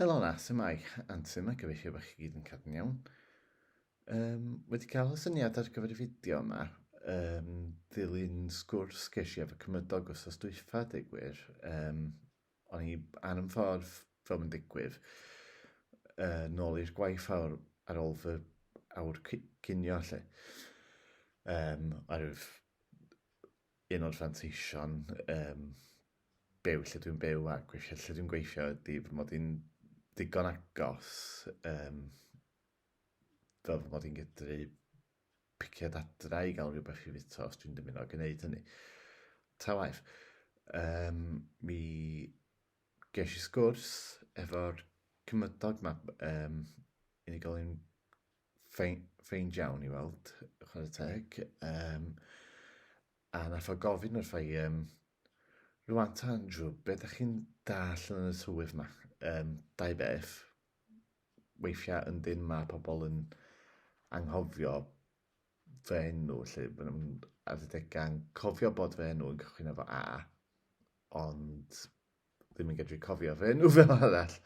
Helo 'na, su' mae? Antur 'ma, gobeithio bod chi gyd yn cadw'n iawn. Um, wedi cael y syniad ar gyfer y fideo yma, um, ddilyn sgwrs ges i efo cymydog os os dwyfa, deu gwir. Um, o'n i ar yn ffordd fel yn digwydd, uh, nôl i'r gwaith awr, ar ôl fy awr cynio lle. Um, arwydd Un o'r fanteision yym byw lle dwi'n byw a gweithio lle dwi'n gweithio ydi fy mod i'n ddigon agos yym fel fy mod i'n medru piciad adra i gael rhywbeth i fwyta os dwi'n dymuno gwneud hynny. Ta waeth, um, mi ges i sgwrs efo'r cymydog ma, um, unigolyn ffein, ffein iawn i weld, chwarae teg. Um, a nath o gofyn wrth i, um, rwan ta Andrew, beth ydych chi'n dall yn y tywydd yma? Um, dau beth, weithiau yn dyn mae pobl yn anghofio fy enw, lle maen nhw'n adegau'n cofio bod fy enw yn cychwyn efo A, ond ddim yn gedru cofio fy enw fel arall.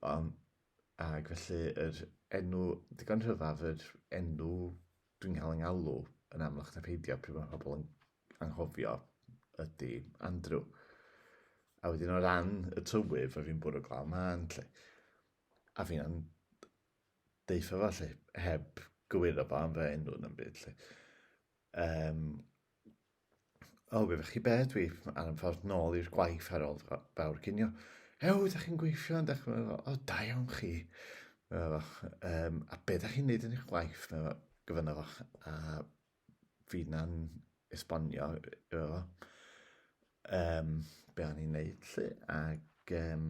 Um, ac felly yr enw, digon rhyfaf, yr enw dwi'n cael yng ngalw yn amlach na peidio pryd mae pobl yn anghofio ydy Andrew. A wedyn o ran y tywydd, fe fi'n bwrw glaw man, lle. A fi'n deitha fo, lle, heb gywiro fo am fy enw yn byd, lle. Um, O, gwybod chi be, dwi ar y ffordd nôl i'r gwaith ar ôl fawr cinio. Ew, da chi'n gweithio yn dechrau fel, o, da iawn chi. Fel, um, a be da chi'n neud yn eich gwaith? Fel, gyfynna fo, a fi na'n esbonio, fel, um, be o'n i'n neud, lle, ac, um,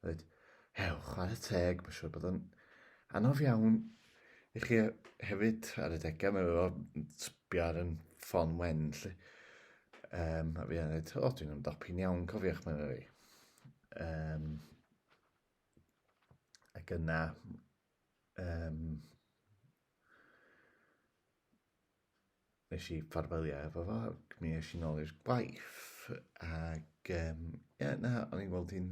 Reit, hew, chwarae teg, mae'n siŵr bod o'n anodd iawn i chi hefyd ar y degau, mae'n rhaid sbio ar yn ffon wen, lle. Um, a fi yn dweud, o, dwi'n ymdopi'n iawn, cofiwch, mae'n rhaid. Um, ac yna, um, nes i ffarwelio efo fo, ac mi es i'n ôl i'r gwaith, ac um, ie, yeah, na, o'n i'n gweld hi'n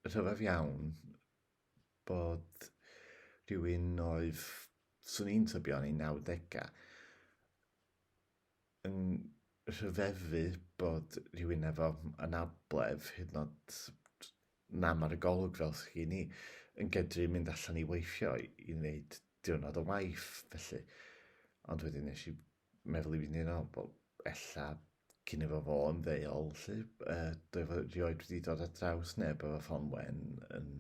rhyfedd iawn bod rhywun oedd, swn i'n tybio yn ei 90au, yn rhyfeddu bod rhywun efo anabledd hyd yn oed Na, mae'r golwg fel sy gen i yn gedru mynd allan i weithio i wneud diwrnod o waith, felly. Ond wedyn nes i meddwl i fyny nawr, wel, ella cyn efo fo yn ddeuol, lly, uh, dwi efo rioed wedi dod ar draws neb efo ffon wen yn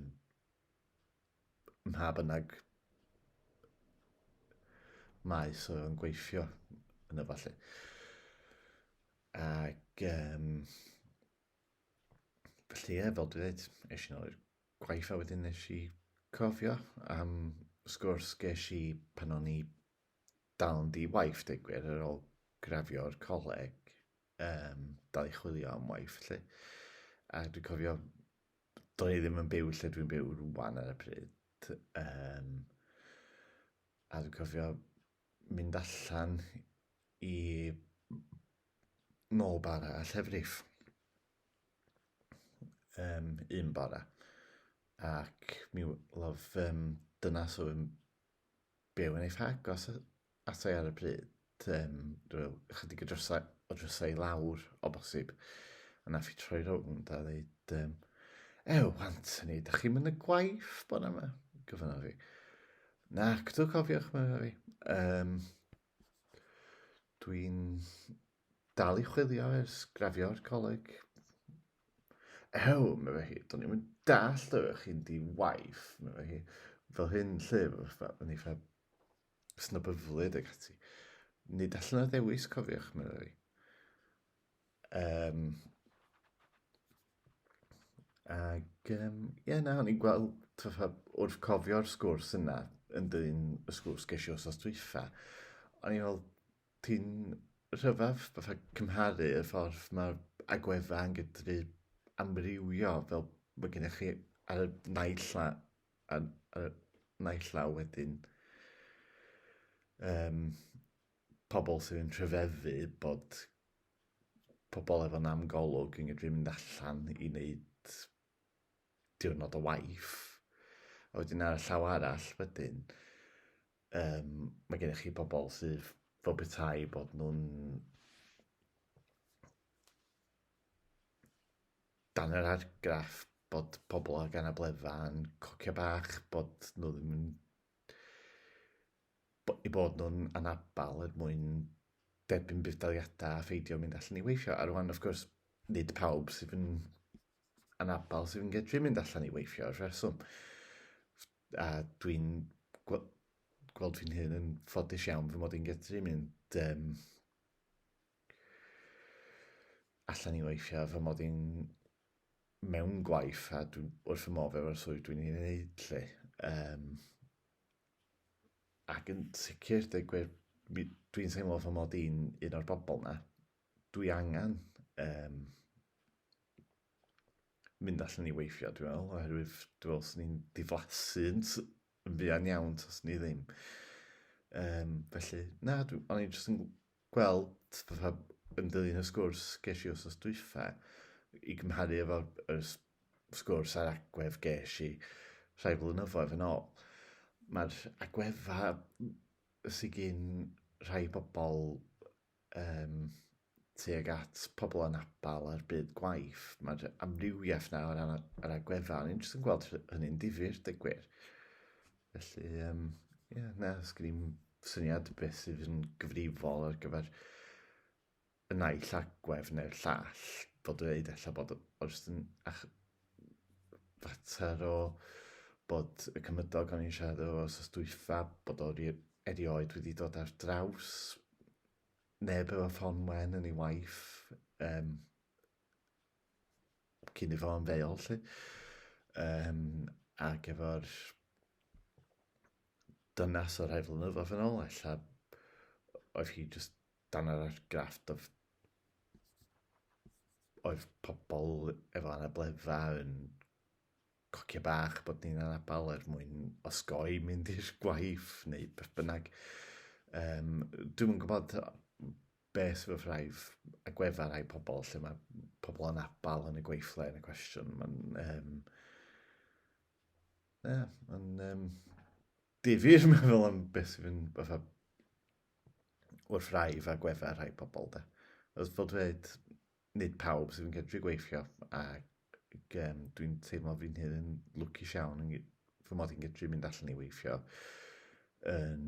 mha bynnag maes oedd yn gweithio yn y falle. Ac, um, Felly ie, fel dwi ddeud, esh i nôl i'r gwaith a wedyn nesh i cofio am sgwrs gesh i pan o'n i dal yn di-waith deu gwir ar ôl graddio'r coleg yym dal i chwilio am waith 'lly a dwi cofio do'n i ddim yn byw lle dwi'n byw rŵan ar y pryd yym a dwi'n cofio mynd allan i nôl bara a llefrif. Um, un bara. Ac mi lof um, dyna so yn byw yn ei ffag os atai ar y pryd. Um, rhyw chydig o drysau, o drysau lawr o bosib. A na fi troi rownd a ddeud, um, Ew, Anthony, da chi'n mynd y gwaith bod yma? Gofynodd fi. Na, cydw cofiwch, mae'n fi. Um, Dwi'n dal i chwilio ers grafio'r coleg. Ew, meddai hi, do'n i'm yn dallt oedd chi'n di waith, meddai hi. Fel hyn, lle, o'n i fel snobyflyd ac ati. Nid allan o ddewis, cofiwch, meddai hi. Um, Ac yym ie na o'n i'n gweld fatha wrth cofio'r sgwrs yna yn dyn y sgwrs ges i wsos dwytha, o'n i'n meddwl ti'n rhyfedd fatha cymharu y ffordd mae'r agweddau yn gallu amrywio fel mae gennych chi ar y naill la- ar y naill law wedyn yym pobl sy'n rhyfeddu bod pobl efo nam golwg yn gallu mynd allan i wneud diwrnod o waith, a wedyn ar y llaw arall wedyn um, mae gennych chi pobl sydd fel petai bod nhw'n dan yr argraff bod pobl ag anabledda yn cocio bach, bod nhw ddim yn eu bod nhw'n anabl er mwyn derbyn budd-daliadau a pheidio mynd allan i weithio. A rwan, wrth gwrs, nid pawb sydd yn anabl sydd yn gallu mynd allan i weithio ar rheswm. A dwi'n gweld fi'n hyn yn ffodus iawn fy mod i'n gallu mynd um, allan i weithio fy mod i'n mewn gwaith a dwi'n wrth fy modd efo'r swydd dwi'n ei wneud lle. Um, ac yn sicr, dweud gwir, dwi'n teimlo fy mod i'n un o'r bobl na. Dwi angen um, mynd allan i weithio, dwi'n meddwl, oherwydd dwi'n meddwl sy'n ni'n diflasu yn fuan iawn os ni ddim. Um, felly, na, o'n i'n jyst yn gweld, fatha, yn dilyn y sgwrs gesh i wsos dwytha, i gymharu efo'r yr s- sgwrs a'r agwedd gesh i rhai flynyddoedd yn ôl, ma'r agwedda sy gin rhai pobl yym tuag at pobl anabl a'r byd gwaith, ma'r amrywiaeth 'na o ran yr agwedda, o'n i'n jyst yn gweld hynny'n difyr, deu gwir. Felly, um, yeah, na, sgrim syniad beth sydd yn gyfrifol ar gyfer y naill agwedd neu'r llall, bod yn dweud efallai bod oes yn ach, fater o bod y cymydog o'n i'n siarad o os dwytha, bod o'r erioed wedi dod ar draws neb efo ffon wen yn ei waith, um, cyn i fo ymddeol, lly. Um, ac efo'r dynas o'r rhai flynyddoedd yn ôl, ella oedd hi just dan yr argrafft of oedd pobl efo anabledda yn cocio bach bod ni'n anabal er mwyn osgoi mynd i'r gwaith neu beth bynnag. Um, dwi'n gwybod beth yw'r rhai agweddau rhai pobl lle mae pobl yn abal yn y gweithle yn y cwestiwn. Mae'n um, yeah, mae'n um, difyr meddwl am beth sy'n fynd fatha wrth rai fa gweddau rhai pobl da. Os bod dweud, nid pawb sydd yn gydru gweithio a um, dwi'n teimlo fi'n hyn yn lwcus iawn yn fy mod i'n gydru mynd allan i weithio yn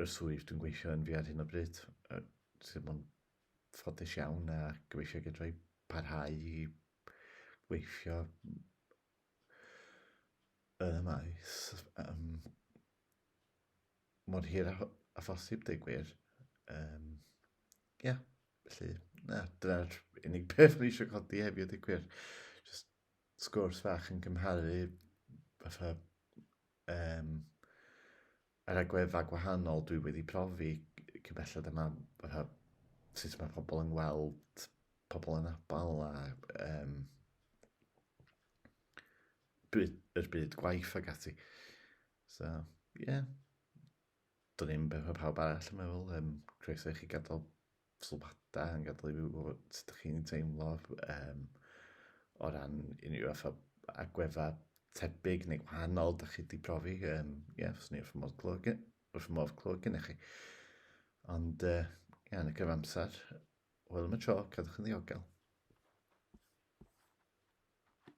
y swydd dwi'n gweithio yn fi ar hyn o bryd, sydd ddim ond ffodus iawn a gobeithio gydra i parhau i weithio yn y maes um, mor hir a, a phosib, dweud gwir. Um, yeah, felly, na, dyna'r unig beth ni eisiau codi hefyd, dweud gwir. Just sgwrs fach yn cymharu fatha um, Yr agweddau gwahanol dwi wedi profi, cymhelled yma, fatha sut mae pobl yn gweld pobl anabl a yym byd... yr byd gwaith ac ati. So, ie. Dwn i'm beth ma' pawb arall yn meddwl, yym croeso i chi gadael sylwadau yn gadael i fi wybod sut ydych chi'n teimlo um, o ran unrhyw efo agweddau tebyg neu gwahanol ydych chi wedi profi. Ie, um, yeah, fyswn i wrth modd clywed, wrth modd clywed gen i chi. Ond, ie, uh, yeah, yn y cyfamser, wel am y tro, cadwch yn ddiogel.